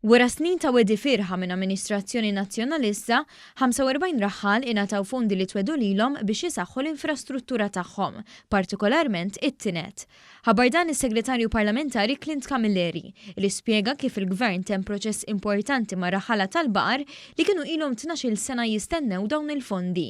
Wara snin ta' wegħdi fierħa minn amministrazzjoni Nazzjonalista, 45 raħħal ingħataw fondi li twegħdu lilhom biex isaħħu l-infrastruttura tagħhom, partikolarment it-tined. Ħabbar dan is-Segretarju Parlamentari Clint Camilleri, li spjega kif il-Gvern temm proċess importanti mar-raħħala tal-baqar li kienu ilhom tnax-il sena jistennew dawn il-fondi.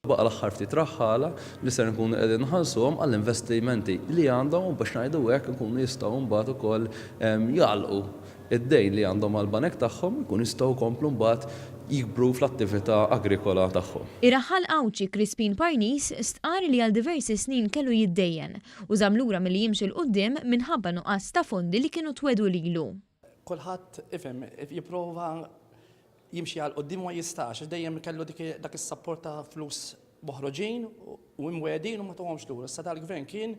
Baqa' l-aħħar ftit raħħala li ser inkunu qegħdin nħallsuhom għall-investimenti li għandhom u biex ngħidu hekk ikunu jistgħu mbagħad ukoll jagħlqu d-dejn li għandhom mal-banek tagħhom, ikunu jistgħu jkomplu mbagħad jikbru fl-attività agrikola tagħhom. Ir-raħħal Għawdxi Crispin Parnis stqarr li għal diversi snin kellu jiddejjen u żamm lura milli jimxi 'l quddiem minħabba nuqqas ta' fondi li kienu twegħdu lilu. Kulħadd ifhem, jipprova jimxi għal quddiem u ma jistax għax dejjem kellu dak is-sapport ta' flus moħroġin u imwegħdin u ma tuhomx lura. Issa dal-Gvern kien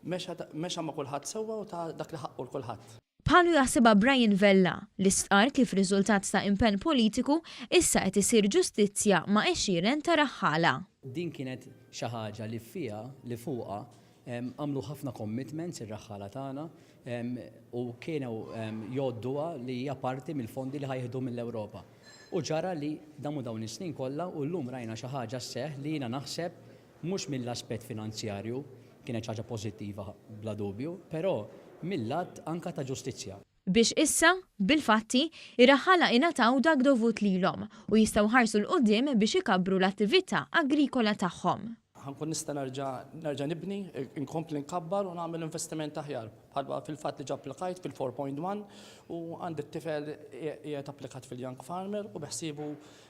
mexa ma' kulħadd sewwa u ta dak li ħaqqu 'l kulħadd. Bħalu jaħsibha Brian Vella, li stqarr kif riżultat ta' impenn politiku, issa qed isir ġustizzja ma' għexieren ta' raħħala. Din kienet xi ħaġa li fiha, li fuqha, Għamlu ħafna commitments ir-raħħala tagħna u kienu jgħodduha li hija parti mill-fondi li ħa jieħdu mill-Ewropa. U ġara li damu dawn is-snin kollha u llum rajna xi ħaġa sseħħ li jiena naħseb mhux mill-aspett finanzjarju, kienet xi ħaġa pożittiva bla dubju, però mill-lat anke ta' ġustizzja. biex issa, bil-fatti, ir-raħħala ingħataw dak dovut lilhom u jistgħu jħarsu 'l quddiem biex ikabbru l-attività agrikola tagħhom. Ħa nkun nista' nerġa' nerġa' nibni, inkompli nkabbar u nagħmel investiment aħjar. Bħalma fil-fatt diġà applikajt fil-4.1 u għandi t-tifel qiegħed applikat fil-Young Farmer u beħsiebu